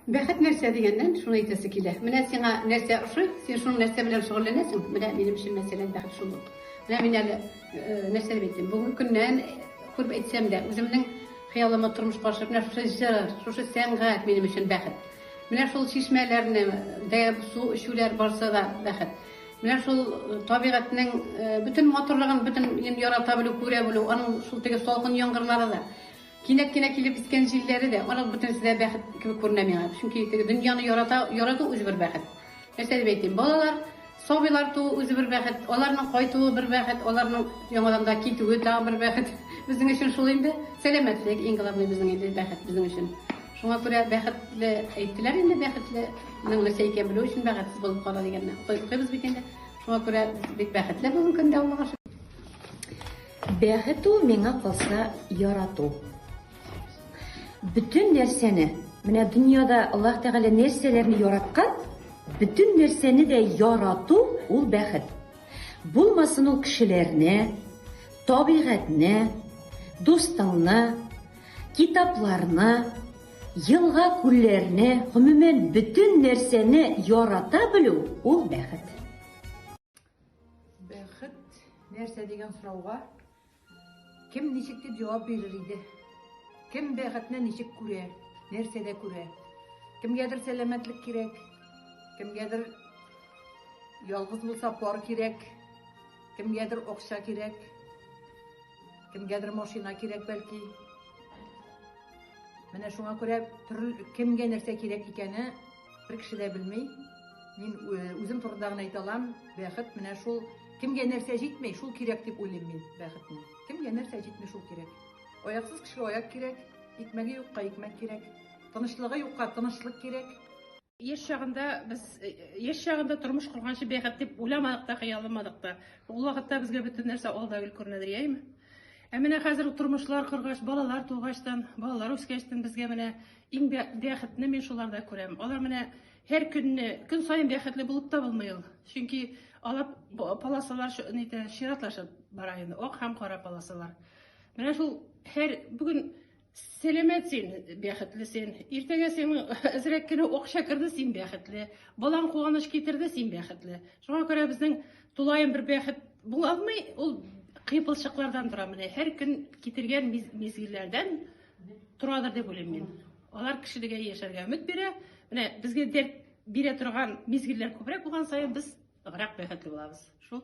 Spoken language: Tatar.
Бәхет нәрсә дигәннән, шуны әйтәсе килә. Менә сиңа нәрсә ошый, син шуның нәрсә белән шөгыльләнәсең. Менә минем өчен мәсәлән бәхет шул ук. Менә мин әле э, нәрсә дип әйтим, бүгенге көннән күреп әйтсәм дә, үземнең хыялыма тормыш каршы менә шушы җыр, шушы сәнгать минем өчен бәхет. Менә шул чишмәләрне, дә су эчүләр барса да бәхет. Менә шул э, табигатьнең э, бөтен матурлыгын, бөтен ярата белү, күрә белү, аның шул теге салкын яңгырлары да. Кинәт кенә килеп искән җилләре дә, аның бөтенесе дә бәхет кебек күренә миңа. Чөнки теге дөньяны ярата, ярату үзе бер бәхет. Нәрсә дип әйтим, балалар, сабыйлар туу үзе бер бәхет, аларның кайтуы бер бәхет, аларның яңадан да китүе тагын бер бәхет. Безнең өчен шул инде. Сәламәтлек, иң главный безнең инде бәхет безнең өчен. Шуңа күрә бәхетле әйттеләр инде, бәхетле ның нәрсә икән белү өчен бәхетсез булып кала дигәнне укыйбыз бит инде. Шуңа күрә бик бәхетле бүген көндә аллага шөкер. Бәхет ул миңа калса ярату. Бөтен нәрсәне, менә дөньяда Аллаһ Тәгалә нәрсәләрне яраткан, бөтен нәрсәне дә ярату ул бәхет. Булмасын ул кешеләрне, табигатьне, дустыңны, китапларны, елга-күлләрне, гомумән, бөтен нәрсәне ярата белү ул бәхет. Бәхет нәрсә дигән сорауга кем ничек дип җавап бирер иде? Кем бәхетне ничек күрә? Нәрсәдә күрә? Кемгәдер сәламәтлек кирәк, кемгәдер ялгыз булса пар кирәк, кемгәдер акча кирәк, кемгәдер машина кирәк бәлки. Менә шуңа күрә төрле кемгә нәрсә кирәк икәне Бер кеше дә белми, мин үзем турында гына әйтә алам, бәхет менә шул, кемгә нәрсә җитми, шул кирәк дип уйлыйм мин бәхетне. Кемгә нәрсә җитми, шул кирәк. Аяксыз кешегә аяк кирәк, икмәге юкка икмәк кирәк, тынычлыгы юкка тынычлык кирәк. Яшь чагында без яшь чагында тормыш корганчы бәхет дип уйламадык та, хыялламадык та. Ул вакытта безгә бөтен нәрсә алда гел күренәдер, яйме? Ә менә хәзер тормышлар коргач, балалар тугачтан, балалар үскәчтән безгә менә Иң бә бәхетне мин шуларда күрәм. Алар менә һәр көнне, көн саен бәхетле булып та булмый ул. Чөнки алар полосалар нитә, чиратлашып бара инде, ак һәм кара полосалар. Менә шул һәр бүген Сәләмәт син, бәхетле син. Иртәгә син әзрәк кенә акча керде, син бәхетле. Балаң куаныч китерде, син бәхетле. Шуңа күрә безнең тулаем бер бәхет була алмый, ул кыйпылчыклардан тора менә. Һәр көн китергән мизгелләрдән Торадыр дип уйлыйм мин. Алар кешелегә яшәргә өмет бирә. Менә безгә дәрт бирә торган мизгелләр күбрәк булган саен без ныграк бәхетле булабыз. Шул.